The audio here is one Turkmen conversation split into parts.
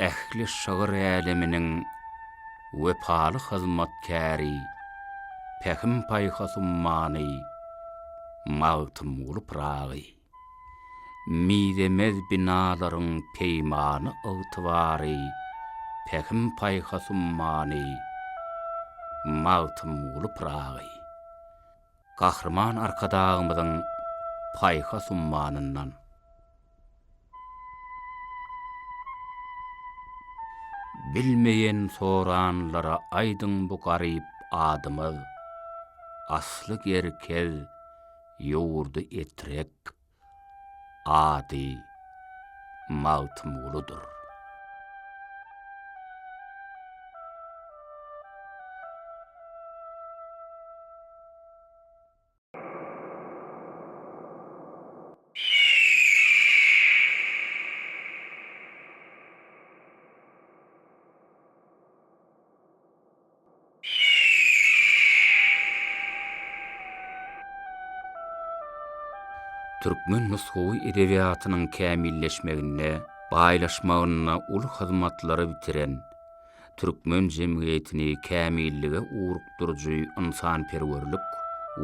Ähli şygyr äleminiň wepaly hyzmatkäri, pähim-paýhas ummany Magtymguly Pyragy. Mizemez binalaryň peýmany ygtybary, pähim-paýhas ummany Magtymguly Pyragy. Gahryman Arkadagymyzyň paýhas ummanyndan. Bilmeýän soranlara aýdyň bu garyp adymyz, Asly gerkez, ýurdy etrek. Ady Magtymgulydyr. Türkmen nusgawy edebiýatynyň kämilleşmeginde, baýlaşmagynda uly hyzmatlary bitiren, türkmen jemgyýetini kämillige ugrukdyryjy ynsanperwerlik,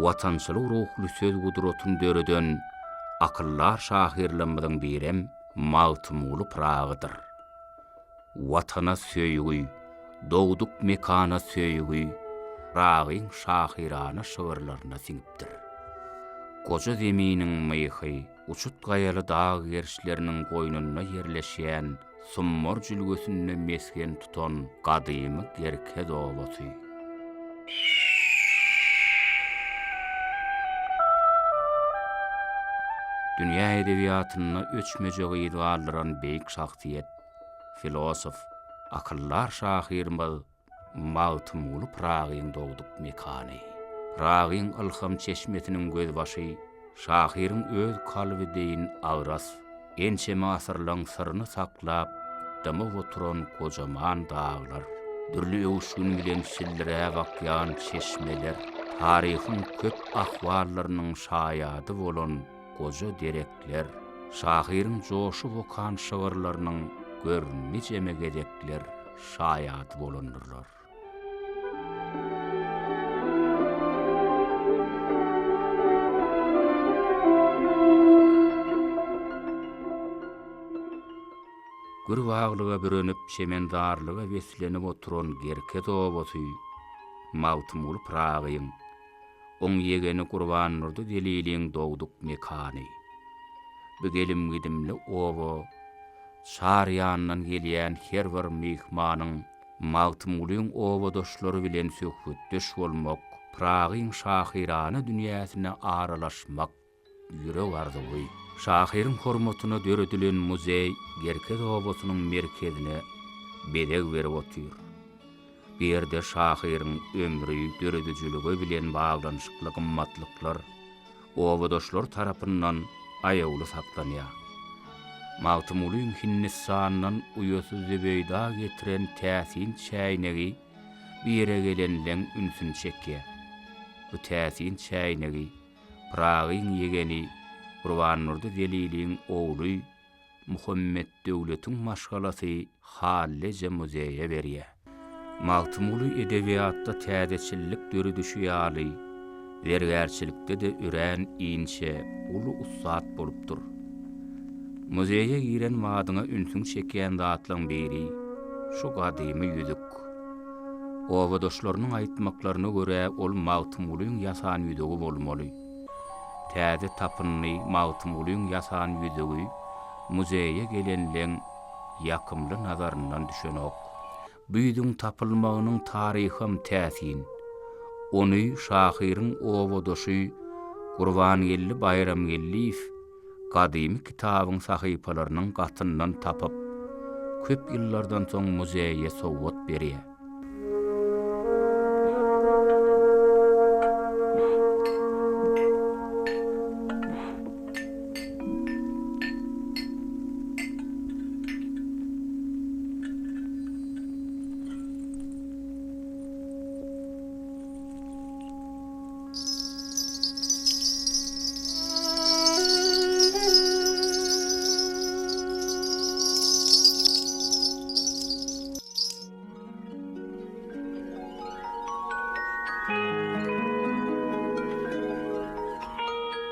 watançylyk ruhly söz gudratyny döreden akyldar şahyrlarymyzyň birem Magtymguly Pyragydyr. Watana söýgi, dogduk mekana söýgi Ragyň şahyrana şygyrlaryna siňipdir. Goja Zeminiň myhy, uçut gaýaly dag gerşleriniň goýnunda ýerleşýän Summar jülgesinde mesgen tutan gadymy Gerkez obasy. Dünýä edebiýatynda öçmejek yz galdyran beýik şahsyýet. filosof, akyldar şahyrymyz Magtymguly Pyragyň dogduk mekany, Pyragyň ylham çeşmesiniň gözbaşy, şahyryň öz kalby deýin agras, ençeme asyrlaryň syryny saklap, dymyp oturan gojaman daglar, dürli öwüşgin bilen çildiräp akýan çeşmeler, taryhyň köp ahwallarynyň şaýady bolan, goja derekler. Şahyryň joşup okan şygyrlarynyň gör nijeme gezekler şaýady bolandyrlar. Gür-baglyga bürenip çemendarlyga beslenip oturan Gerkez obasy Magtymguly Pyragyň oň ýegeni Gurbandurdy Zeliliň dogduk mekany. Bu gelim-gidimli oba çar ýandan gelýän her bir myhmanyň Magtymgulyň obadaşlary bilen söhbetdeş bolmak, Pyragyň şahyrana dünýäsine aralaşmak, Ýürek arzuwy. Şahyryň hormatyna döredilen muzeý Gerkez obasynyň merkezine bezeg berip otyr. Bu ýerde şahyryň ömri, döredijiligi bilen baglanyşykly gymmatlyklar obadaşlar tarapyndan aýawly saklanýar. Magtymgulyň Hindistandan uýasy Zübeýda getiren täsin çäýnegi bu ýere gelenleň ünsüni çekýär. Bu täsin çäýnegi Pyragyň ýegeni Gurbannurdy Zeliliň ogly Muhammetdöwletiň maşgalasy Halleje muzeýe berýär. Magtymguly edebiýatda täzeçillik döredişi ýaly, zergärçilikde-de örän inçe, uly ussat bolupdyr. Muzeýe giren badyňa ünsüňi çekýän zatlaryň biri, şu gadymy ýüzük. ýok. Obadaşlarynyň aýtmaklaryna görä, ol Magtymgulyň ýasan ýüzügi bolmaly. Täze tapyndy Magtymgulyň ýasan ýüzügi muzeýe gelenleň ýakymly nazaryndan düşenok. Bu ýüzüň tapylmagynyň taryham täsin. Ony şahyryň obadaşy Gurbangeldi Baýramgeldiýew gadymy kitabyň sahypalarynyň gatyndan tapyp, köp ýyllardan soň muzeýe sowgat berýär.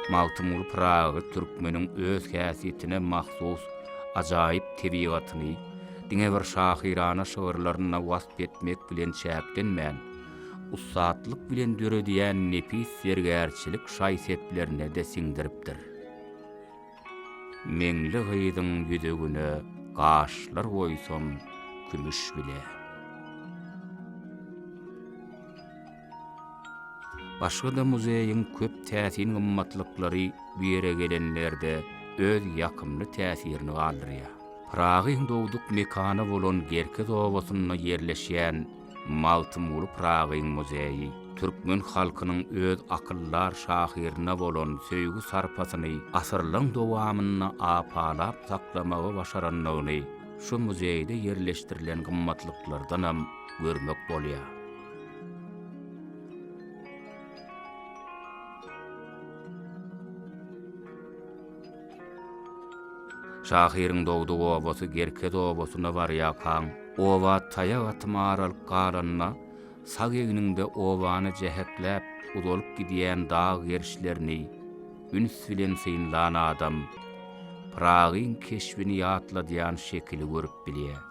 Magtymguly Pyragy türkmeniň öz häsiýetine mahsus ajaýyp tebigatyny diňe bir şahyrana şygyrlarynda wasp etmek bilen çäklenmän, ussatlyk bilen döredýän nepis zergärçilik şaý-seplerine-de siňdiripdir. Meňli gyzyň ýüzügine gaşlar oýsam kümüş bile. Başga-da muzeýiň köp täsin gymmatlyklary bu ýere gelenlerde öz ýakymly täsirini galdyrýar. Pyragyň dogduk mekany bolan Gerkez obasynda ýerleşýän Magtymguly Pyragyň muzeýi türkmen halkynyň öz akyldar şahyryna bolan söýgi-sarpasyny asyrlaryň dowamynda apalap saklamagy başarandygyny şu muzeýde ýerleşdirilen gymmatlyklardanam görmek bolýar. Şahyryň dogduk obasy Gerkez obasyna barýarkaň, oba taýak atym aralyk galanda, sag egniňde obany jähekläp uzalyp gidýän dag gerişlerini üns bilen synlan adam Pyragyň keşbini ýatladýan şekili görüp bilýär.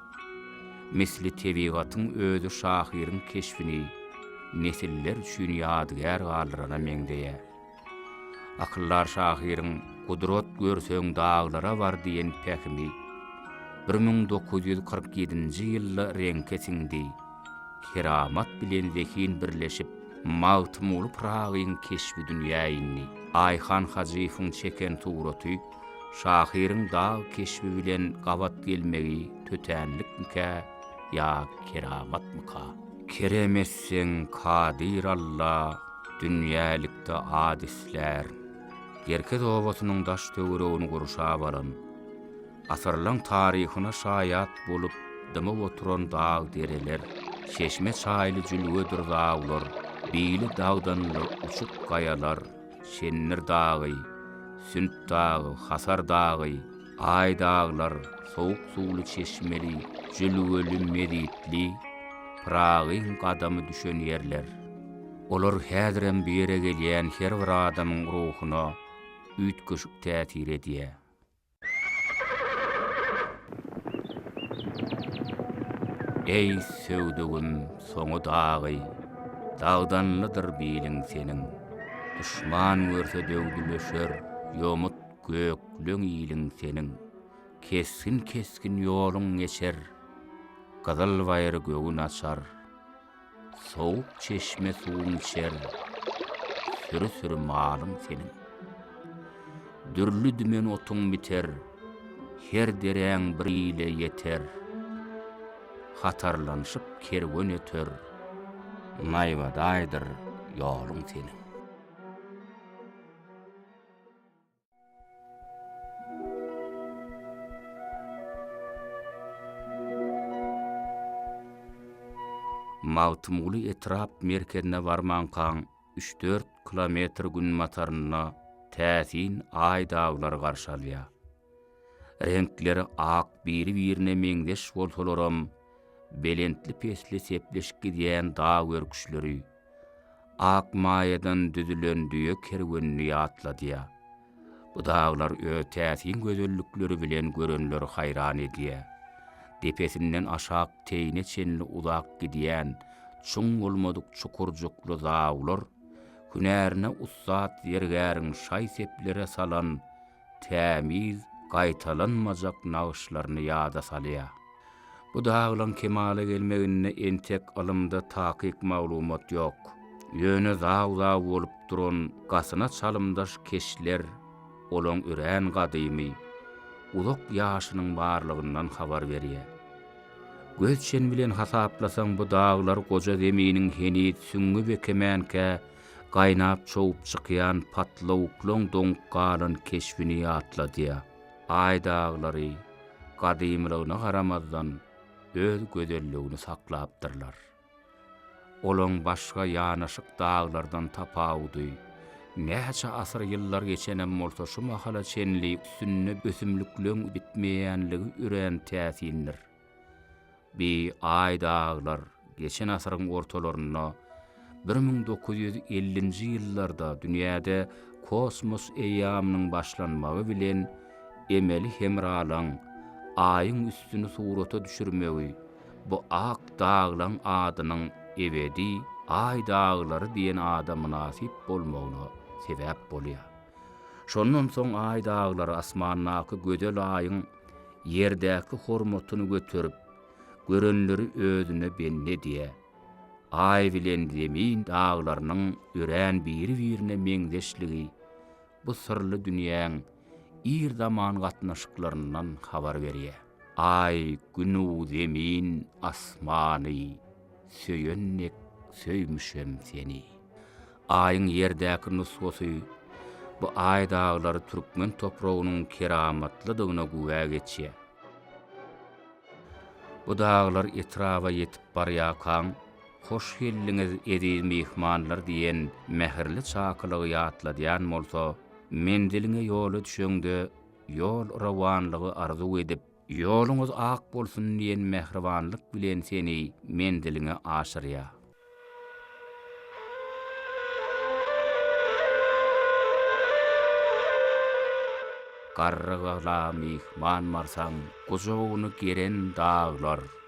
Misli tebigatyň özi şahyryň keşbini nesiller üçin ýadygär galdyrana meňzeýär. Akyldar şahyryň Gudrat görseň daglara bar diýen pähimi bir müň dokuz ýüz kyrk ýedinji ýylda reňke siňdi. Keramat bilen zehin birleşip, Magtymguly Pyragyň keşbi dünýä indi. Aýhan Hajyýewiň çeken suraty şahyryň dag keşbi bilen gabat gelmegi tötänlikmikä? ýa keramatmyka? Kerem etseň Kadyr Alla dünýälikde at islär. Gerkez obasynyň daş-töweregini gurşap alan, asyrlaň taryhyna şaýat bolup dymyp oturan dag-dereler, çeşme-çaýly jülgedir daglar, bili dagdanly uçuk gaýalar, Şendir dagy, Sünt dagy, Hasar dagy, Aý daglar, sowuk suwly çeşmeli, jülgeli, mezitli, Pyragyň gadamy düşen ýerler. Olar häzirem bu ýere gelýän her bir adamyň ruhuna üýtgeşik täsir edýär. Eý, söwdügim, soňy dagy, dagdanlydyr biliň seniň. Duşman görse döwdüleşer, ýomut Gökleň iliň seniň, kesgin-kesgin ýoluň geçer, Gyzyl baýry göwün açar, sowuk çeşme suwuň içer, Süri-süri malyň seniň. Dürli dümen otuň biter, her deräň bir ile ýeter, Hatarlanyşyp kerwen öter, naýbadaýdyr ýoluň seniň. Magtymguly etrap merkezine barmankaň üç-dört kilometr günbatarynda täsin Aý daglary garşy alýar. Reňkleri ak biri-birine meňzeş bolsalaram, belentli-pesli sepleşip gidýän dag örküşleri, Ak maýadan düzülen düýe kerwenini ýatladýar. Bu daglar öz täsin gözellikleri bilen görenleri haýran edýär. Depesinden aşak teýine çenli uzap gidýän çuň bolmadyk çukurjykly zawlar, hünärine ussat zergäriň şaý-seplere salan tämiz, gaýtalanmajak nagyşlaryny ýada salýar. Bu daglaryň kemala gelmeginde entek ylymda takyk maglumat ýok. Ýöne zag-zag bolup duran gasyna çalymdaş keşler olaň örän gadymy, uzak ýaşynyň barlygyndan habar berýär. Göz çen bilen hasaplasaň bu daglar goja Zeminiň heniz süňňi bekemänkä Gaýnap çowup çykýan patlawuklaň doňup galan keşbini ýatladýar. Aý daglary, gadymylygyna garamazdan, öz gözelligini saklapdyrlar. Olaň başga ýanaşyk daglardan tapawudy, näçe asyr-ýyllar geçenem bolsa şu mahala çenli üstünde ösümlikleň bitmeýänligi örän täsindir. Bi aý daglar geçen asyryň ortalarynda bir müň dokuz ýüz ellinji ýyllarda dünýäde kosmos eýýamynyň başlanmagy bilen emeli hemralaň Aýyň üstüni surata düşürmegi bu ak daglaň adynyň ebedi Aý daglary diýen ada mynasyp bolmagyna sebäp bolýar. Şondan soň Aý daglary asmandaky gözel Aýyň ýerdäki hormatyny göterip, görenleri özüne bendi edýär. Aý bilen Zemin daglarynyň örän biri-birine meňzeşligi bu syrly dünýäň ir zaman gatnaşyklaryndan habar berýär. Aý, Gün-u Zemin asmany. söýen dek söýmüşem seni. Aýyň ýerdäki nusgasy bu Aý daglary türkmen topragynyň keramatlydygyna güwä geçýär. Bu daglar etraba ýetip barýarkaň, Hoş geldiňiz, eziz myhmanlar diýen mähirli çakylygy ýatladýan bolsa, menziliňe ýola düşeňde ýol rowanlygy arzuw edip, Ýoluňyz ak bolsun diýen mähribanlyk bilen seni menziliňe aşyrýar. Garrygala myhman barsaň, gujagyny geren daglar.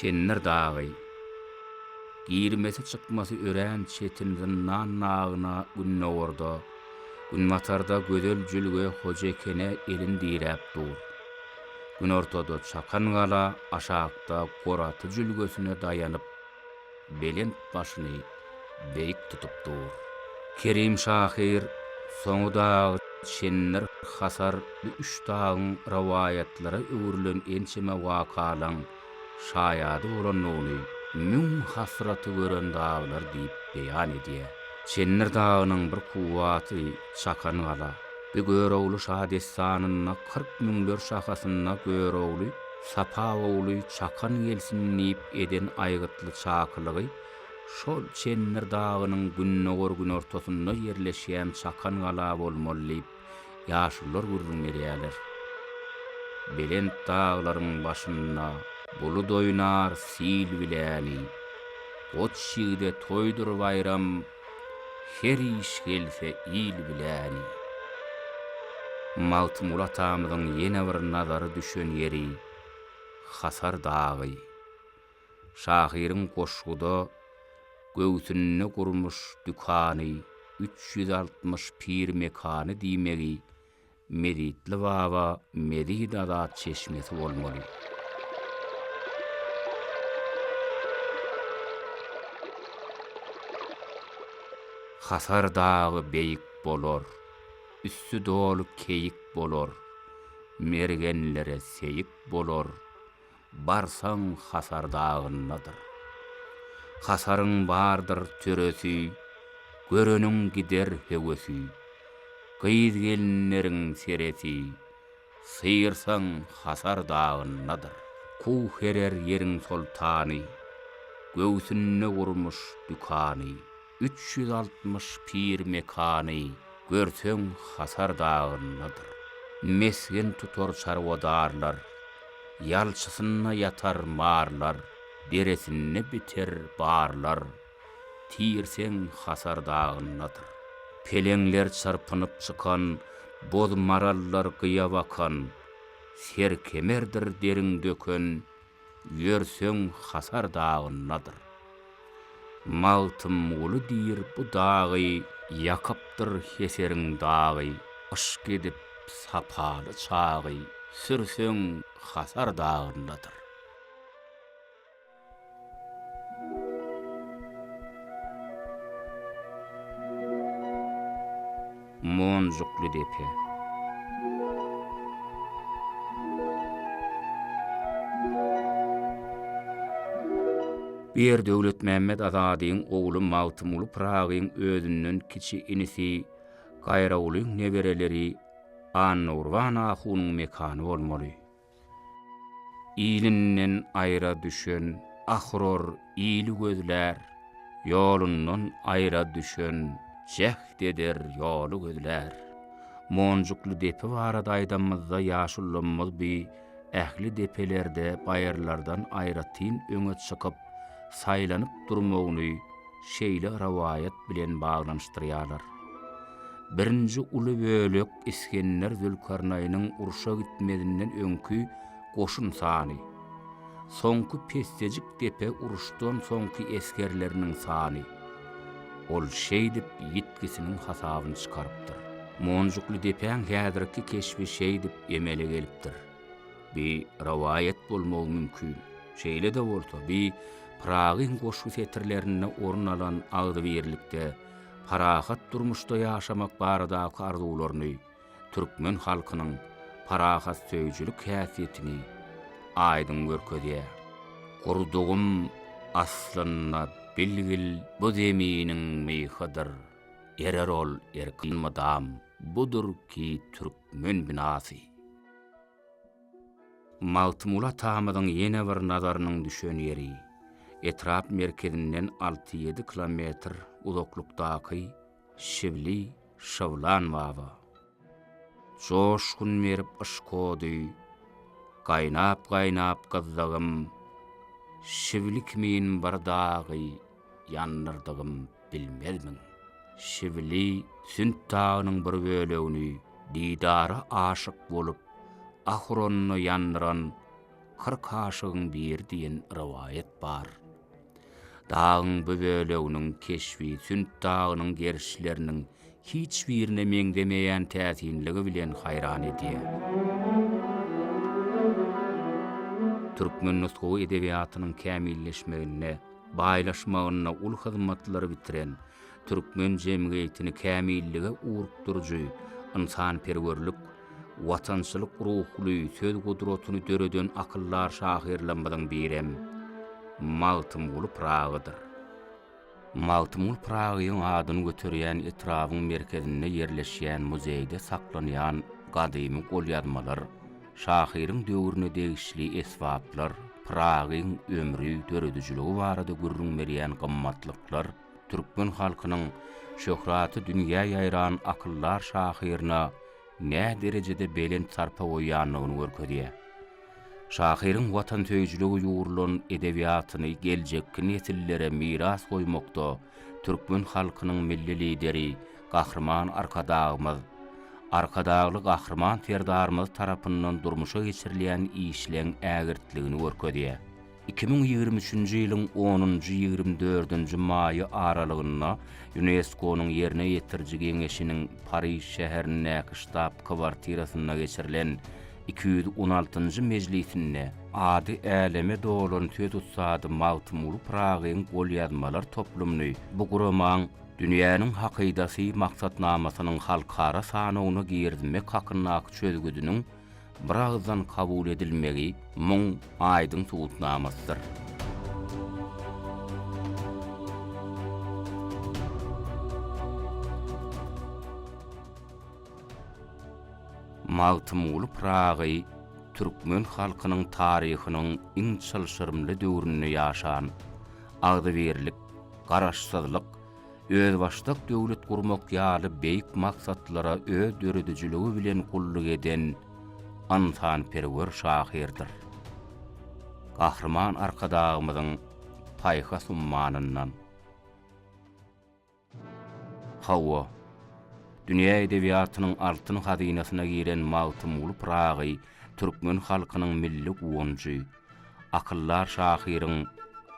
Çendir dagy, girmesi-çykmasy örän çetin zyndan nagyna gündogarda, günbatarda gözel jülge Hojekene elin diräp dur. Günortada Çakangala, aşakda Goraty jülgesine daýanyp, belent başyny beýik tutup dur. Kerim şahyr soňy dagy Çendir, Hasar bu üç dagyň rowaýatlara öwrülen ençeme wakalaň şaýady bolandygyny Müň hasraty gören daglar diýip beýan edýär. Çendir dagynyň bir kuwwaty Çakan gala. Bu Görogly şadessanynda kyrk müňler şahasynda Görogly, Sapaguly çakan gelsin diýip eden aýgytly çakylygy şol Çendir dagynyň gündogar-günortasynda ýerleşýän Çakan gala bolmaly diýip, ýaşulular gürrüň berýärler. Belent daglaryň başynda bulut oýnar sil biläni, Goç ýigide toýdur baýram, Her iş gelse il biläni. Magtymguly atamyzyň ýene bir nazary düşen ýeri Hasar dagy. Şahyryň goşguda Göwsünde gurmuş dükany üç ýüz altmyş pir mekany diýmegi Mezitli baba mezit azat çeşmesi bolmaly. Hasar dagy beýik bolar, Üsti doly keýik bolar, Mergenlere seýik bolar, Barsaň hasar dagyndadyr. Hasaryň bardyr töresi, Göreniň gider höwesi. Gyz-gelinleriň seresi, Syýrsaň hasar dagyndadyr. Kuw herer ýeriň soltany, Göwsünde gurmuş dükany. üç ýüz altmyş pir mekany görseň hasar dagyndadyr. Mesgen tutar çarwadarlar, ýalçysynda ýatar marlar, deresinde biter barlar, tirseň hasar dagyndadyr. Peleňler çyrpynyp çykan, boz marallar gyýa bakan, serkemerdir derin döken, Ýörseň Hasar dagyndadyr. Magtymguly diýr bu dagy ýakypdyr Heseriň dagy Yşk edip sapaly çagy sürseň Hasar dagyndadyr. Monjukly depe. Bu ýer Döwletmämmet Azadyň ogly Magtymguly Pyragyň özünden kiçi inisi Gaýrawulyň nebereleri Annagurban ahunyň mekany bolmaly. Ilinden aýra düşen Ahror ili gözlär, Ýolundan aýra düşen Jäht eder, ýoly gözlär. Monjukly depe barada aýdanymyzda ýaşullymyz bi ähli depelerde baýyrlardan aýratyn öňe çykyp, saýlanyp durmagyny, şeýle rowaýat bilen baglanyşdyrýarlar. Birinji uly bölek Isgender Zülkarnaýnyň urşa gitmezinden öňki goşun sany, soňky pessejik depe uruşdan soňky esgerleriniň sany. Ol şeýdip ýitgisiniň hasabyny çykarypdyr. Monjukly depäň häzirki keşbi şeýdip emele gelipdir. Bi rowaýat bolmagy mümkin. Şeýle-de bolsa, bi Pyragyň goşgy setirlerinde orun alan agzybirlikde, parahat durmuşda ýaşamak baradaky arzuwlaryny, türkmen halkynyň parahatsöýüjilik häsiýetini aýdyň görkezýär. Gurdugym aslynda bilgil bu zeminiň myhydyr, erer ol erkin mydam, budur ki türkmen binasy. Magtymguly atamyzyň ýene bir nazarynyň düşen ýeri, etrap merkezinden alty-ýedi kilometr uzaklykdaky Şibli Şybylan baba. Joşgun berip yşkody, Gaýnap-gaýnap gyzdygym, Şibli kimin bir dagy. Ýandyrdygym bilmezmiň? Şibili Sünt dagynyň bir bölegini didara aşyk bolup, ahuronuna ýandyran kyrk aşygyň biri diýen rowaýat bar. Dagyň bu böleginiň keşbi Sünt dagynyň gerişleriniň hiç birine meňzemeýän täsinligi bilen haýran edýär. Türkmen nusgawy edebiýatynyň kämilleşmeginde, baýlaşmagynda uly hyzmatlary bitiren, türkmen jemgyýetini kämillige ugrukdyryjy ynsanperwerlik, watançylyk ruhly söz gudratyny döreden akyldar şahyrlarymyzyň birem Magtymguly Pyragydyr. Magtymgul Pyragyň adyny göterýän etrabyň merkezinde ýerleşýän muzeýde saklanýan gadymy golýazmalar, şahyryň döwrüne degişli esbaplar, Pyragyň ömri, döredijiligi barada gürrüň berýän gymmatlyklar türkmen halkynyň şöhraty dünýä ýaýran akyldar şahyryna näderejede belent sarpa goýýandygyny görkezýär. Şahyryň watansöýüjiligi ýugrulan edebiýatyny geljekki nesillere miras goýmakda türkmen halkynyň Milli Lideri Gahryman Arkadagymyz, Arkadagly Gahryman Serdarymyz tarapyndan durmuşa geçirilýän işleň ägirtligini görkezýär. Iki müň ýigrimi üçünji ýylyň onunjy-ýigrimi dördünji maýy aralygynda Ýunesko-nyň Ýerine ýetiriji geňeşiniň Pariž şäherindäki ştab-kwartirasynda geçirilen iki ýüz on altynjy mejlisinde ady äleme dolan söz ussady Magtymguly Pyragyň golýazmalar toplumyny bu guramaň Dünýäniň hakydasy maksatnamasynyň halkara sanawyna girizmek hakyndaky çözgüdiniň biragyzdan kabul edilmegi muň aýdyň subutnamasydyr. Magtymguly Pyragy türkmen halkynyň taryhynyň iň çylşyrymly döwründe ýaşan, agzybirlik, garaşsyzlyk, özbaşdak döwlet gurmak ýaly beýik maksatlara öz döredijiligi bilen gulluk eden ynsanperwer şahyrdyr. Gahryman Arkadagymyzyň paýhas ummanyndan. Hawa, dünýä edebiýatynyň altyn hazynasyna giren Magtymguly Pyragy türkmen halkynyň milli guwanjy. Akyldar şahyryň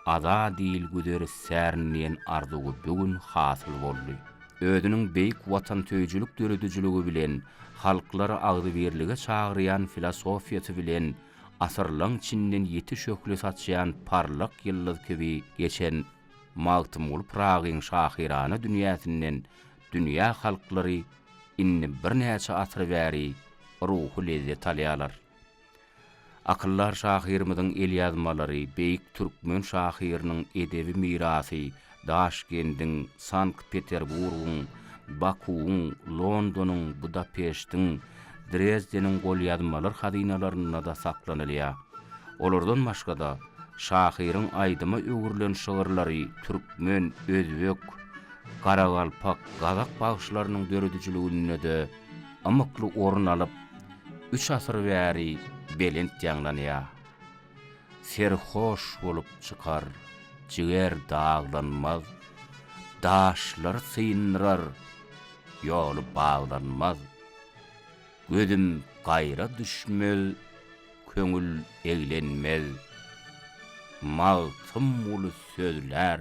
Ada diýl güzer istärin diýen arzuwy bu gün hasyl boldy. Özüniň beýik watansöýüjilik döredijiligi bilen, halklary agzybirlige çagyrýan filosofiýasy bilen asyrlaň çinden ýiti şöhle saçýan parlak ýyldyz kibi geçen Magtymguly Pyragyň şahyrana dünýäsinden dünýä halklary indi birnäçe asyr bäri ruhy lezzet alýarlar. Akyldar şahyrymyzyň elýazmalary, beýik türkmen şahyrynyň edebi mirasy Daşkendiň, Sankt-Peterburgyň, Bakuwyň, Londonyň, Budapeştiň, Drezdeniň golýazmalar hazynalarynda-da saklanylýar. Olardan başga-da, şahyryň aýdyma öwrülen şygyrlary türkmen, özbek, garagalpak, gazak bagşylarynyň döredijiliginde-de ymykly orun alyp, üç asyr bäri belent ýaňlanýar. Serhoş bolup çykar, jiger daglanmaz, daşlar syndyrar, ýoly baglanmaz. Gözüm gaýra düşmez, köňül eglenmez, Magtymguly sözlär.